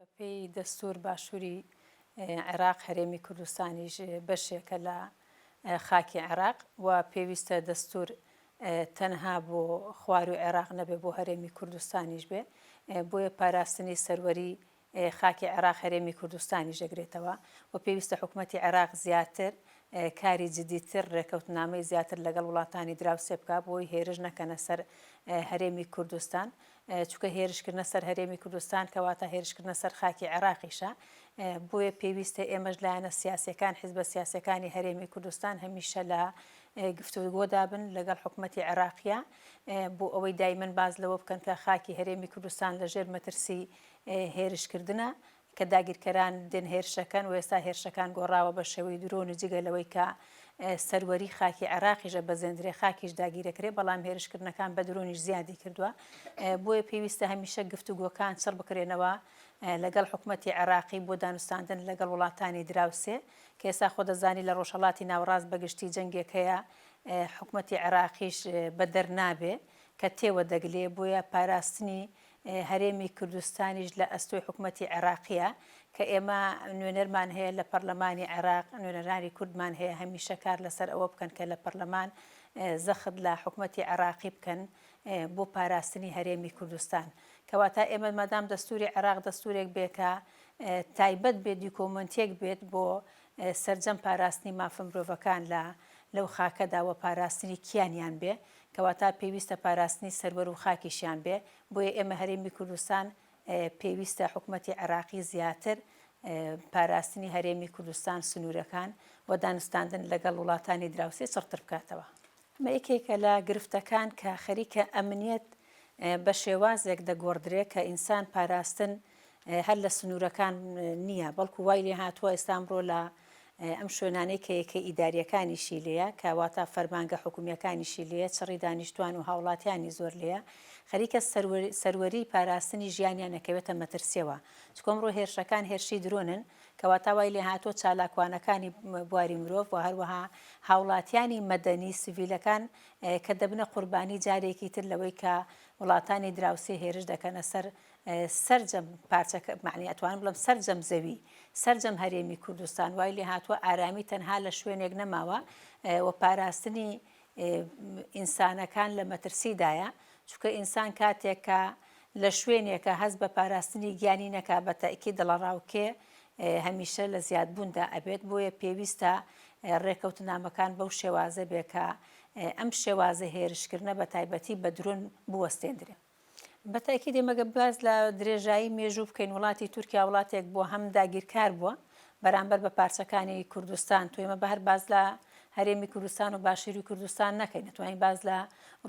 بەپێی دەستوور باشووری عێراق هەرێمی کوردستانیش بەشێکە لە خاکی عێراق و پێویستە دەستوور تەنها بۆ خوارووی عێراق نەبێ بۆ هەرێمی کوردستانیش بێ بۆیە پاراستنی سەروەری خاکی عێراق هەرێمی کوردستانیش دەگرێتەوە و پێویستە حکوومەتی عێراق زیاتر کاری جدیتر ڕێکەوتنامەی زیاتر لەگەڵ وڵاتانی دراوسێ بکا بۆی هێرش نەکەنە سەر هەرێمی کوردستان چونکە هێرشکردنە سەر هەرێمی کوردستان کەواتە هێرشکردنە سەر خاکی عێراقیشە، بۆیە پێویستە ئێمەش لایەنە سیاسییەکان، حزبە سیاسییەکانی هەرێمی کوردستان هەمیشە لە گفتوگۆدا بن لەگەڵ حکومەتی عێراقیە بۆ ئەوەی دایمەن باز لەوە بکەن کە خاکی هەرێمی کوردستان لەژێر مەترسی هێرشکردنە کە داگیرکەران دێن هێرشەکەن و ئێستا هێرشەکان گۆڕاوە بە شێوەی درۆن و جگە لەوەی کە سەروەری خاکی عێراقیش ئەبەزێندرێ خاکیش داگیرەکرێ بەڵام هێرشکردنەکان بە درۆنیش زیادی کردووە بۆیە پێویستە هەمیشە گفتوگۆکان چڕ بکرێنەوە لەگەڵ حکوومەتتی عێراقی بۆ دانوستاندن لەگەڵ وڵاتانی دراوسێ کە ئێستا خۆ دەزانی لە ڕۆژهڵاتی ناوڕاست بەگشتی جەنگێک هەیە حکوومەتتی عێراقیش بەدەر نابێ کە تێوە دەگلێ بۆیە پاراستنی هەرێمی کوردستانیش لە ئەستۆی حکومەتی عێراقییە، کە ئێمە نوێنەرمان هەیە لە پەڕلەمانی عێراق، نوێنەرانی کوردمان هەیە هەمیشە کار لەسەر ئەوە بکەن کە لە پەڕلەمان زەخت لە حکومەتی عێراقی بکەن بۆ پاراستنی هەرێمی کوردستان. کەواتە ئێمە مادام دەستووری عێراق دەستوورێک بێ کە تایبەت بێ دیکۆمەنتێک بێت بۆ سەرجەم پاراستنی مافە مرۆڤەکان لە لەو خاکەدا و پاراستنی کیانیان بێ، کەواتە پێویستە پاراستنی سەروەر و خاکیشیان بێ، بۆیە ئێمە هەرێمی کوردستان پێویستە حکومەتی عێراقی زیاتر پاراستنی هەرێمی کوردستان، سنوورەکان و دانوستاندن لەگەڵ وڵاتانی دراوسێ چڕتر بکاتەوە. ئەمە یەکێکە لە گرفتەکان کە خەریکە ئەمنیەت بە شێوازێک دەگۆڕدرێ کە ئینسان پاراستن هەر لە سنوورەکان نییە، بەڵکو وای لێ هاتووە ئێستا ئەمڕۆ لە ئەم شوێنانەی کە یەکە ئیدارییەکانیشی لێیە، کە واتە فەرمانگە حکومییەکانیشی لێیە، چڕی دانیشتووان و هاوڵاتیانی زۆر لێیە، خەریکە سەروەریی پاراستنی ژیانیان ئەکەوێتە مەترسییەوە، چونکە ئەمڕۆ هێرشەکان هێرشی درۆنن، کە واتە وای لێ هاتووە چالاکوانەکانی بواری مرۆڤ و هەروەها هاوڵاتیانی مەدەنی، سڤیلەکان کە دەبنە قوربانی جارێکی تر لەوەی کە وڵاتانی دراوسێ هێرش دەکەنە سەر سەرجەم پارچەکە مەعنی ئەتوانم بڵێم سەرجەم زەوی سەرجەم هەرێمی کوردستان وای لێ هاتووە ئارامی تەنها لە شوێنێک نەماوە و پاراستنی ئینسانەکان لە مەترسیدایە چونکە ئینسان کاتێک کە لە شوێنێکە هەز بە پاراستنی گیانی نەکا بە تاکی دڵەڕاوکێ هەمیشە لە زیادبووندا ئەبێت بۆیە پێویستە ڕێکەوتنامەکان بەو شێوازە بێکە ئەم شێوازە هێرشکردە بە تایبەتی بە درۆن بوەستێندرێن. بە تاکید ئێمە گەر باس لە درێژایی مێژوو بکەین وڵاتی تورکیا وڵاتێک بووە هەم داگیرکار بووە بەرامبەر بە پارچەکانی کوردستان تو ئێمە بە هەر باس لە هەرێمی کوردستان و باشوری کوردستان نەکەین نەتوانین باس لە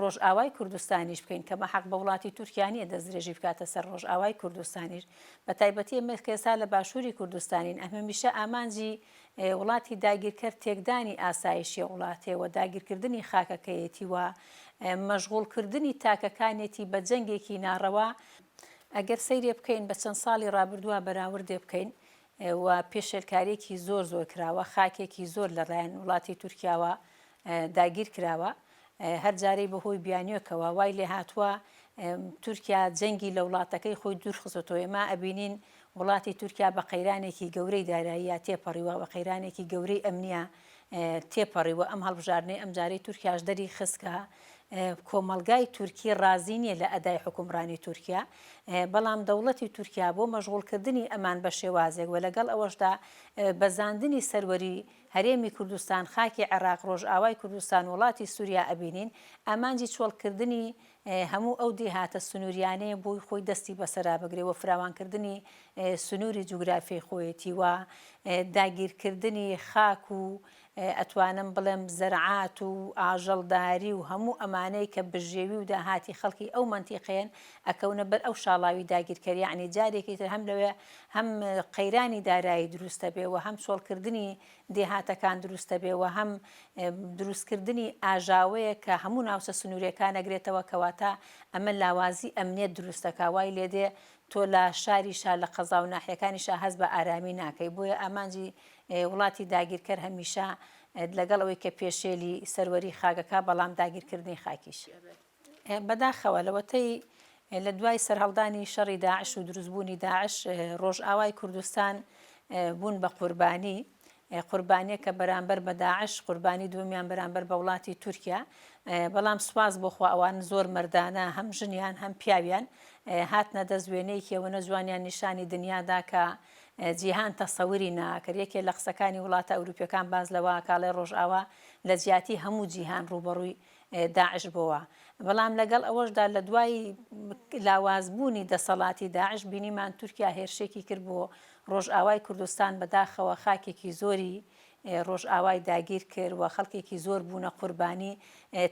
ڕۆژئاوای کوردستانیش بکەین کە بە حەق بە وڵاتی تورکیا نییە دەستدرێژی بکاتە سەر ڕۆژئاوای کوردستانیش بە تایبەتی ئێمە کە ئێستا لە باشوری کوردستانین ئەمە میشە ئامانجی وڵاتی داگیرکەر تێکدانی ئاسایشی وڵاتێ و داگیرکردنی خاکەکەیەتی و مەژغوڵکردنی تاکەکانێتی بە جەنگێکی ناڕەوا، ئەگەر سەیرێ بکەین بە چەند ساڵی ڕابردووە بەراوردێ بکەین و پێشێلکاریەکی زۆر زۆر کراوە، خاکێکی زۆر لە ڕێیان وڵاتی تورکیاوە داگیر کراوە، هەر جارەی بە هۆی بیانوێکەوە وای لێ هاتووە تورکیا جەنگی لە وڵاتەکەی خۆی دوور خستۆتەوە، ئێمە ئەبینین وڵاتی تورکیا بە قەیرانێکی گەورەی داراییە تێپەڕیوە و قەیرانێکی گەورەی ئەمنییە تێپەڕیوە، ئەم هەڵبژاردنەی ئەمجارەی تورکیاش دەری خست کە کۆمەڵگای تورکی ڕازی نییە لە ئەدای حوکمڕانی تورکیا، بەڵام دەوڵەتی تورکیا بۆ مەشغوڵ کردنی ئەمان بە شێوازێک و لەگەڵ ئەوەشدا بەزاندنی سەروەری هەرێمی کوردستان، خاکی عێراق، ڕۆژئاوای کوردستان و وڵاتی سووریا ئەبینین، ئامانجی چۆڵکردنی هەموو ئەو دێهاتە سنوورییانەیە بۆی خۆی دەستی بەسەرا بگرێ و فراوانکردنی سنووری جوگرافیای خۆیەتی و داگیرکردنی خاک و ئەتوانم بڵێم زەرعات و ئاژەڵداری و هەموو ئەمانەی کە بژێوی و داهاتی خەڵکی ئەو مەنتیقەیەن ئەکەونە بەر ئەو شاڵاوی داگیرکەر یەعنی جارێکی تر هەم لەوێ هەم قەیرانی دارایی دروست دەبێ و هەم چۆڵکردنی دێهاتەکان دروست دەبێ و هەم دروستکردنی ئاژاوەیەک کە هەموو ناوچە سنوورێکان ئەگرێتەوە کەواتە ئەمە لاوازی ئەمنیەت دروست دەکا وای لێ دێ تۆ لە شاری شا لە قەزا و ناحیەکانی شا هەست بە ئارامی ناکەی بۆیە ئامانجی وڵاتی داگیرکەر هەمیشە لەگەڵ ئەوەی کە پێشێلی سەروەری خاکەکە بەڵام داگیرکردنی خاکیش بەداخەوە لەوەتەی لە دوای سەرهەڵدانی شەڕی داعش و دروستبوونی داعش ڕۆژئاوای کوردستان بوون بە قوربانی، قوربانیەکە بەرامبەر بە داعش، قوربانی دووەمیان بەرامبەر بە وڵاتی تورکیا، بەڵام سوپاس بۆ خوا ئەوان زۆر مەردانە هەم ژنیان هەم پیاویان هاتنە دەست وێنەیەکی ئەوە نەجوانیان نیشانی دنیا دا کە جیهان تەسەوری ناکرد، یەکێ لە قسەکانی وڵاتە ئەوروپیەکان باس لەوە ئەکا ئەڵێ ڕۆژئاوا لە جیاتی هەموو جیهان ڕووبەڕووی داعش بۆوە، بەڵام لەگەڵ ئەوەشدا لە دوای لاوازبوونی دەسەڵاتی داعش بینیمان تورکیا هێرشێکی کرد بۆ ڕۆژئاوای کوردستان بەداخەوە خاکێکی زۆری ڕۆژئاوای داگیر کرد و خەڵکێکی زۆر بوونە قوربانی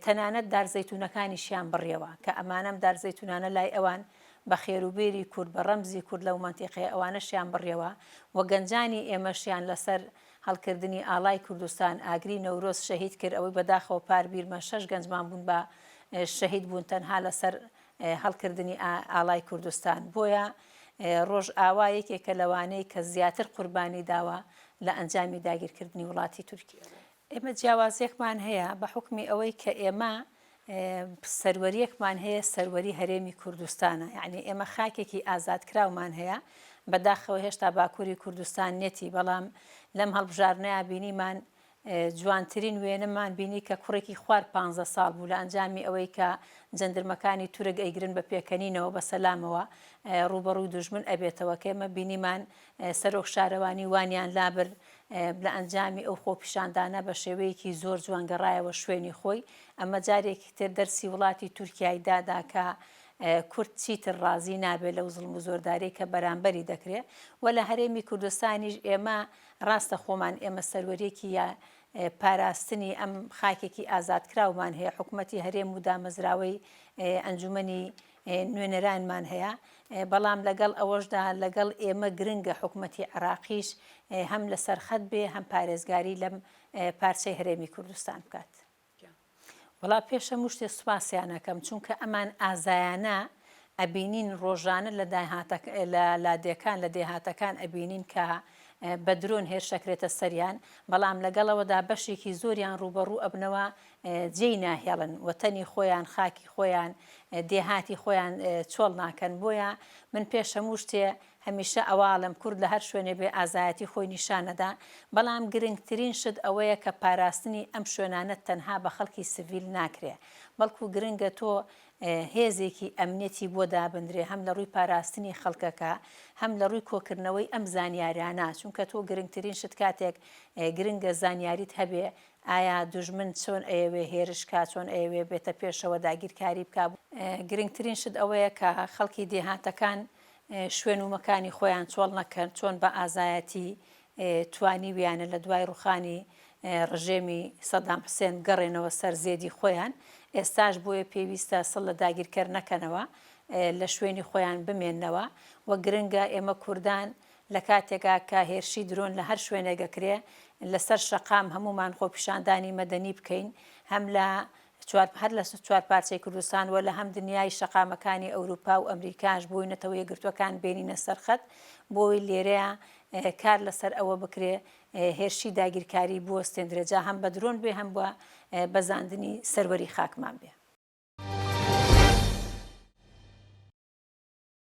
تەنانەت دار زەیتونەکانیشیان بڕیەوە کە ئەمانەم دار زەیتونانە لای ئەوان بە خێروبێری کورد بە ڕەمزی کورد لەو مەنتیقەیە ئەوانەشیان بڕیەوە و گەنجانی ئێمەشیان لەسەر هەڵکردنی ئاڵای کوردستان ئاگری نەورۆز شەهید کرد ئەوەی بەداخەوە پار بیرمە شەش گەنجمان بوون بە شەهید بوون تەنها لەسەر هەڵکردنی ئاڵای کوردستان بۆیە ڕۆژ ئاوا یەکێکە لەوانەی کە زیاتر قوربانی داوە لە ئەنجامی داگیرکردنی وڵاتی تورکیە ئێمە جیاوازێکمان هەیە بە حکمی ئەوەی کە ئێمە سەروەریەکمان هەیە سەروەری هەرێمی کوردستانە یعنی ئێمە خاکێکی ئازادکراومان هەیە بەداخەوە هێشتا باکووری کوردستان نێتی بەڵام لەم هەڵبژارنەیە بینیمان جوانترین وێنەمان بینی کە کوڕێکی خوار پ ساڵ بوو لە ئەنجامی ئەوەی کە جەندرمەکانی تورک ئەیگرن بە پێکەنینەوە بە سەلامەوە ڕوبەڕووی دژمن ئەبێتەوە کێمە بینیمان سەرۆک شارەوانی وانیان لابرد، لە ئەنجامی ئەو خۆپیشاندانە بە شێوەیەکی زۆر جوان گەڕایەوە شوێنی خۆی، ئەمە جارێکی تر دەرسی وڵاتی تورکیای دادا کە کورد چیتر ڕازی نابێت لەو زوڵم و زۆرداریەی کە بەرامبەری دەکرێت و لە هەرێمی کوردستانیش ئێمە ڕاستە خۆمان ئێمە سەروەریەکی پاراستنی ئەم خاکێکی ئازادکراومان هەیە حکومەتی هەرێم و دامەزراوەی ئەنجومەنی نوێنەرانمان هەیە، بەڵام لەگەڵ ئەوەشدا لەگەڵ ئێمە گرنگە حکومەتی عێراقیش هەم لەسەرخەت بێ هەم پارێزگاری لەم پارچەی هەرێمی کوردستان بکات. وەڵا پێش هەموو شتێ سوپاسیان ئەکەم چونکە ئەمان ئازایانە ئەبینین ڕۆژانە لە داهاتەک لە لادێکان لە دێهاتەکان ئەبینین کە بە درۆن هێرشەکرێتە سەریان بەڵام لەگەڵەوەدا بەشێکی زۆریان ڕووبەڕوو ئەبنەوە جێی ناهێڵن و تەنی خۆیان، خاکی خۆیان، دێهاتی خۆیان چۆڵ ناکەن، بۆیە من پێش هەموو شتێ هەمیشە ئەوەئەڵێم کورد لە هەر شوێنێ بێ ئازایەتی خۆی نیشان ئەدا، بەڵام گرنگترین شت ئەوەیە کە پاراستنی ئەم شوێنانە تەنها بە خەڵکی سڤیل ناکرێ، بەڵکو گرنگە تۆ هێزێکی ئەمنیەتی بۆ دابندرێ هەم لە ڕووی پاراستنی خەڵکەکە هەم لە ڕووی کۆکردنەوەی ئەم زانیارانە، چونکە تۆ گرنگترین شت کاتێک گرنگە زانیاریت هەبێ ئایا دوژمن چۆن ئەیەوێ هێرش کا چۆن ئەیەوێ بێتە پێشەوە داگیرکاری بکا. گرنگترین شت ئەوەیە کە خەڵکی دێهاتەکان شوێن و مەکانی خۆیان چۆڵ نەکەن چۆن بە ئازایەتی توانیویانە لە دوای ڕوخانی ڕژێمی سەدام حسێن بگەڕێنەوە سەر زێدی خۆیان ئێستاش بۆیە پێویستە سڵ لە داگیرکەر نەکەنەوە لە شوێنی خۆیان بمێنەوە وە گرنگە ئێمە کوردان لە کاتێکا کە هێرشی درۆن لە هەر شوێنێک ئەکرێ لە سەر شەقام هەموومان خۆپیشاندانی مەدەنی بکەین هەم لە چوار هەر لە چوار پارچەی کوردستان وە لە هەم دنیای شەقامەکانی ئەوروپا و ئەمریکاش بۆی نەتەوە یەکگرتووەکان بێنینە سەر خەت بۆی لێرەیا کار لە سەر ئەوە بکرێ هێرشی داگیرکاری بوەستێندرێ جا هەم بە درۆن بێ هەم بە بەزاندنی سەروەری خاکمان بێ.